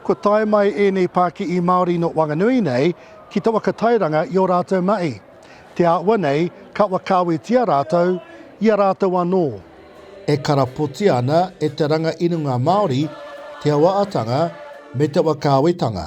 Kua tae mai ēnei pākihi Māori nō Wanganui nei ki te waka tairanga i ō rātou mahi. Te āhua nei, ka whakaawetia rātou i a rātou anō. E karapotia ana e te ranga inunga Māori te awa-atanga me te wakaawetanga.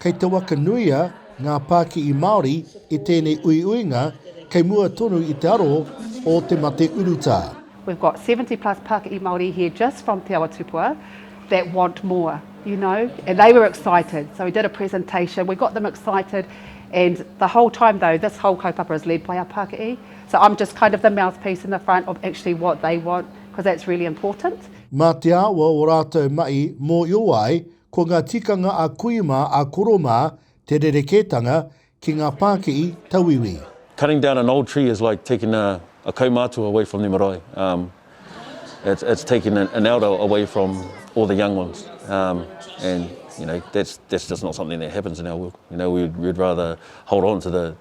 Kei te waka nuia ngā pākihi Māori i tēnei uiuinga kei mua tonu i te aro o te mate urutā. We've got seventy plus Pākihi Māori here just from Te Awa Tupua that want more, you know, and they were excited, so we did a presentation, we got them excited and the whole time though this whole kaupapa is led by our Pākihi, so I'm just kind of the mouthpiece in the front of actually what they want, because that's really important. Mā te awa o rātou mahi mōhio ai Ko ngā tikanga a kui mā, a koro mā, te rerekētanga ki ngā pākihi tauiwi. Cutting down an old tree is like taking a a kaumātua away from their marae. Um, it's, it's taking an, an elder away from all the young ones. Um, and, you know, that's, that's just not something that happens in our world. You know, we'd, we'd rather hold on to the,